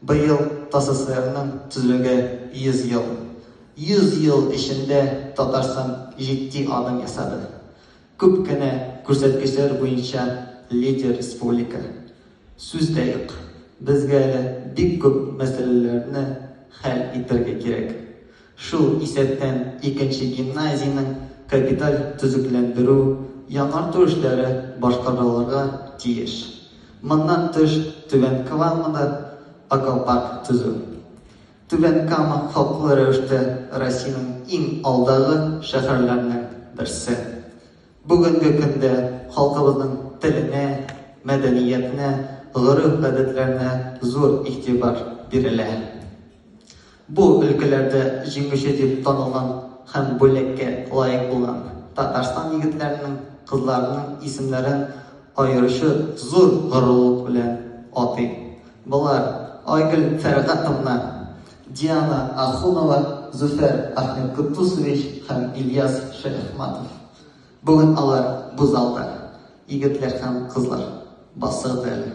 Быел ТАССРның төзелүгә 100 ел. 100 ел эчендә Татарстан җитди адым ясады. Күп кенә күрсәткечләр буенча лидер республика. Сүз дә юк, безгә әле бик күп мәсьәләләрне хәл итәргә кирәк. Шул исәптән икенче гимназиянең капиталь төзекләндерү, яңарту эшләре башкарылырга тиеш. Моннан тыш, Түбән Камада аквапарк төзү, Түбән Кама хаклы рәвештә Россиянең иң алдагы шәһәрләренең берсе. Бүгенге көндә халкыбызның теленә, мәдәниятенә, гореф-гадәтләренә зур игътибар бирелә. Бу өлкәләрдә җиңүче дип танылган һәм бүләккә лаек булган Татарстан егетләренең, кызларының исемнәрен аеруча зур горурлык белән атыйм. Болар, Айгөл Фәргатовна, Диана Ахунова, Зөфәр Ахметкотдусович һәм Ильяс Шәяхматов. Бүген алар бу залда, егетләр һәм кызлар, басыгыз әле!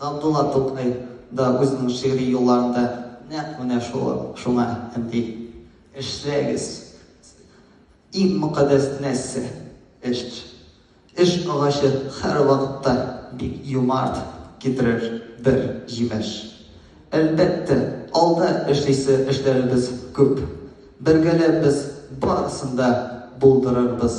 Габдулла Тукай да үзенең шигъри юлларында нәкъ менә шуңа өнди. Эшләгез! Иң мөкаддәс нәрсә, эш. Эш агачы һәрвакытта бик юмарт, китерер бер җимеш. Әлбәттә, алда эшлисе эшләребез күп. Бергәләп без барысын да булдырырбыз.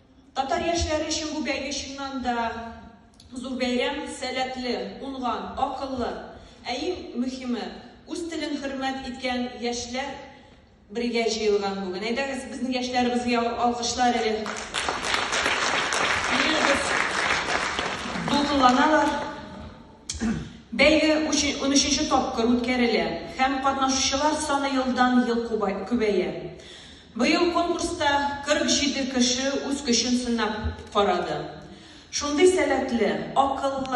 Татар яшьләре өчен бу бәйге чыннан да зур бәйрәм, сәләтле, уңган, акыллы, ә иң мөхиме, үз телен хөрмәт иткән яшьләр бергә җыелган бүген. Әйдәгез, безнең яшьләребезгә алкышлар әле. Бирегез. Дулкынланалар. Бәйге 13 тапкыр үткәрелә һәм катнашучылар саны елдан-ел күбәя. Быел конкурста 47 кеше үз көчен сынап карады. Шундый сәләтле, акыллы,